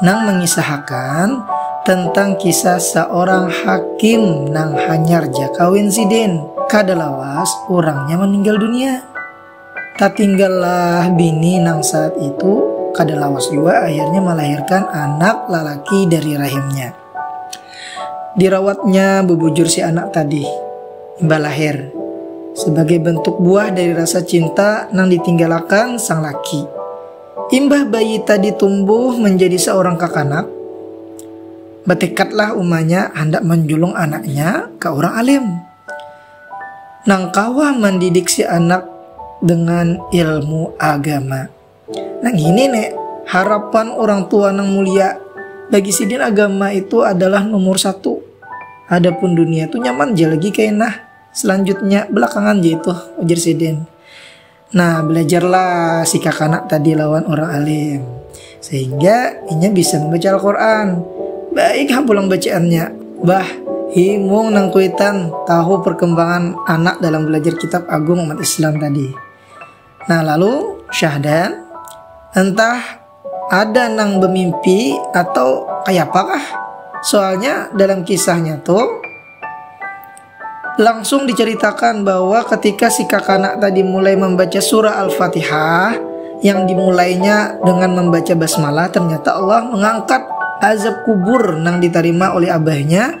nang mangisahakan tentang kisah saorang hakim nang hanyar ja kawin sidin. Kada lawas urangnya maninggal dunia. Tatinggallah bini nang saat itu kada lawas jua akhirnya malahirkan anak lalaki dari rahimnya. Dirawatnya bubujur si anak tadi imbah lahir sabagai bantuk buah dari rasa cinta nang ditinggalakan sang laki. Imbah bayi tadi tumbuh menjadi seorang kakanak, batekadlah umanya handak manjulung anaknya ka urang alim nang kawa mandidik si anak dengan ilmu agama. Nah ini nek harapan orang tua nang mulia bagi sidin agama itu adalah nomor satu. Adapun dunia itu nyaman je lagi kainah. Selanjutnya belakangan je itu ujar sidin. Nah, belajarlah si kakanak tadi lawan orang alim. Sehingga inya bisa membaca Al-Quran. Baik ha pulang bacaannya. Bah, himung nang kuitan tahu perkembangan anak dalam belajar kitab agung umat Islam tadi. Nah, lalu Syahdan entah Ada nang bemimpi atau kayapa kah? Soalnya dalam kisahnya tu langsung diceritakan bahwa ketika si kakanak tadi mulai membaca surah Al-Fatihah yang dimulainya dengan membaca basmalah ternyata Allah mengangkat azab kubur nang ditarima oleh abahnya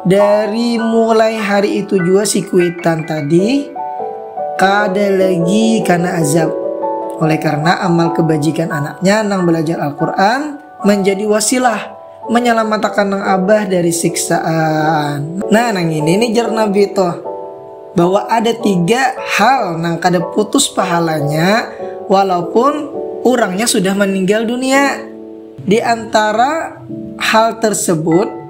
Dari mulai hari itu jua si kuitan tadi kada lagi kana azab. Oleh karena amal kebajikan anaknya nang belajar Al-Quran menjadi wasilah menyelamatakan nang abah dari siksaan. Nah nang ini nih jar Nabi toh bahwa ada tiga hal nang kada putus pahalanya walaupun orangnya sudah meninggal dunia. Di antara hal tersebut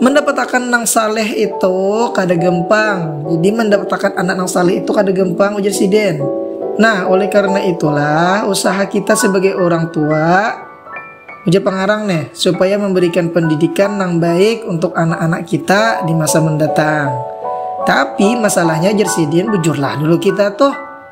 Mendapatakan nang saleh itu kada gempang. Jadi mendapatakan anak nang saleh itu kada gempang ujar siden. Nah, oleh karena itulah usaha kita sebagai orang tua ujar pengarang nih supaya memberikan pendidikan nang baik untuk anak-anak kita di masa mendatang. Tapi masalahnya ujar siden bujurlah dulu kita tuh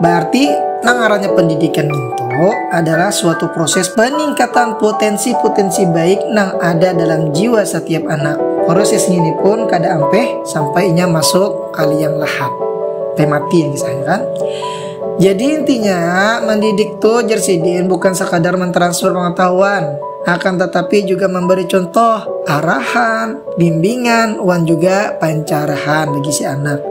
Baarti, nang ngarannya pendidikan ngintu adalah suatu proses peningkatan putensi-putensi baik nang ada dalam jiwa satiap anak. Proses ngini pun kada ampih sampai inya masuk ka liang lahat. Sampai mati kisahnya kan. Jadi intinya, mendidik tu jar sidin bukan sakadar mentransfer pengetahuan, akan tatapi juga memberi contoh, arahan, bimbingan, wan juga pancarahan bagi si anak.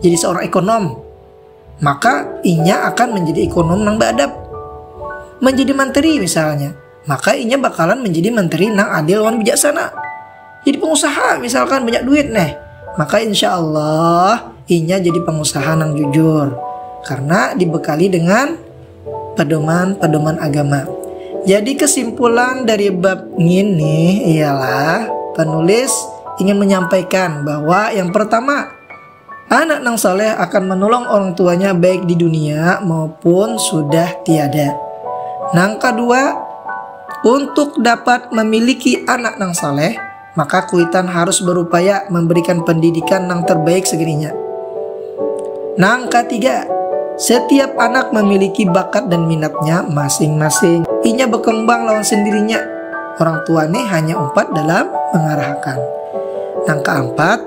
jadi seorang ekonom, maka inya akan menjadi ekonom nang beadab. Menjadi menteri misalnya, maka inya bakalan menjadi menteri nang adil wan bijaksana. Jadi pengusaha misalkan banyak duit neh, maka insya Allah inya jadi pengusaha nang jujur karena dibekali dengan pedoman-pedoman agama. Jadi kesimpulan dari bab ini ialah penulis ingin menyampaikan bahwa yang pertama Anak nang saleh akan menolong orang tuanya baik di dunia maupun sudah tiada. Nang kedua, untuk dapat memiliki anak nang saleh, maka kuitan harus berupaya memberikan pendidikan nang terbaik segininya. Nang ketiga, setiap anak memiliki bakat dan minatnya masing-masing. Inya berkembang lawan sendirinya. Orang tua nih hanya umpat dalam mengarahkan. Nang keempat,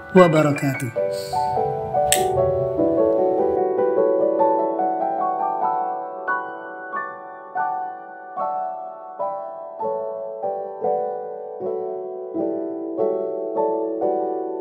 wabarakatuh.